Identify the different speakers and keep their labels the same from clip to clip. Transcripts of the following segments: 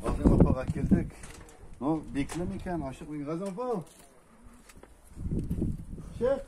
Speaker 1: Газым апага килдек. Ну, бикле микән, ашык микән? Газым апа! Чек!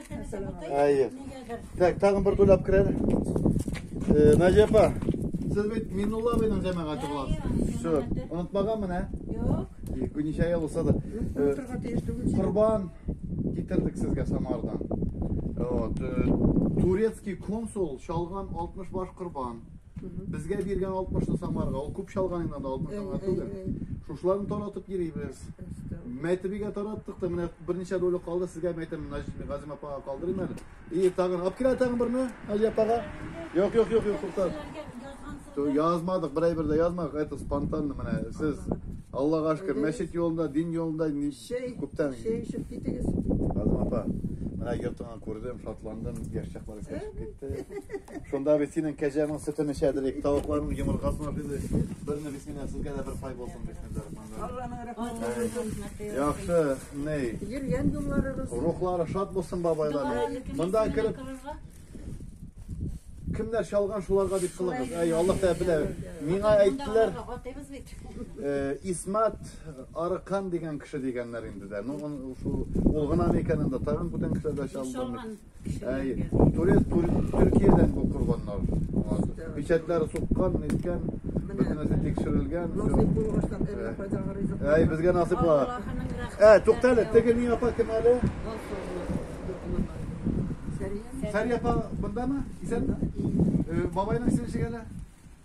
Speaker 1: Әйе. Так, тагын бер кулап керер. Э, Наҗия апа, сез бит Минулла абыйның җәмәгате буласыз. Все, онытмаганмын, ә? Юк. Ике
Speaker 2: ничә ел
Speaker 1: булса да. Э, Корбан китердек сезгә Самардан. Вот. Э, турецкий консул шалган 60 баш корбан. Безгә биргән 60 ны Самарга, ул күп чалганыңнан да 60 аңа түгел. Шушыларны таратып йөрибез. Мәйтебигә тараттык та, менә берничә доля калды, сезгә мәйтәм, Газим апага калдырыйм әле. И, тагын, алып килә тагын берне, Али апага. Юк, юк, юк, юк, туктат. Язмадык, берәй бер дә язмадык, это спонтанно менә. Сез Аллага шөкер, мәчет юлында, дин юлында күптән. Шәй эчеп
Speaker 2: китегез. Газим апа,
Speaker 1: менә йортыңа Күрдем, шатландым, яшь чаклары кәшеп китте. Шунда без синең кәҗәнең сөтен эчәдер, ик тавыкларның йомыркасын ашыйбыз. Берне без синең сезгә дә бер пай булсын бисмиллаһ. Алланың рәхмәте.
Speaker 2: Яхшы,
Speaker 1: ни? Йөргән юлларыгыз.
Speaker 2: Рухлары шат булсын
Speaker 1: бабайлар. Монда кереп Кемнәр чалган шуларга дип кылыгыз. Ай, Аллаһ тәбилә. Миңа әйттеләр. Исмат Арыкан дигән кеше дигәннәр инде дә. Ну, ул гына микән анда тагын бүтән кешеләр дә чалдырмый. Әй, турец Төркиядән бу корбаннар. Печатләр суккан, ниткән, бөтенесе тикшерелгән. Насыйп булгачлар, әллә
Speaker 2: кайдагы ризык. Әй, безгә насыйп була.
Speaker 1: Ә, туктале, теге ни апа кем әле? Сәрия апа бындамы? Исәнме? Бабайның исеме ничек әле?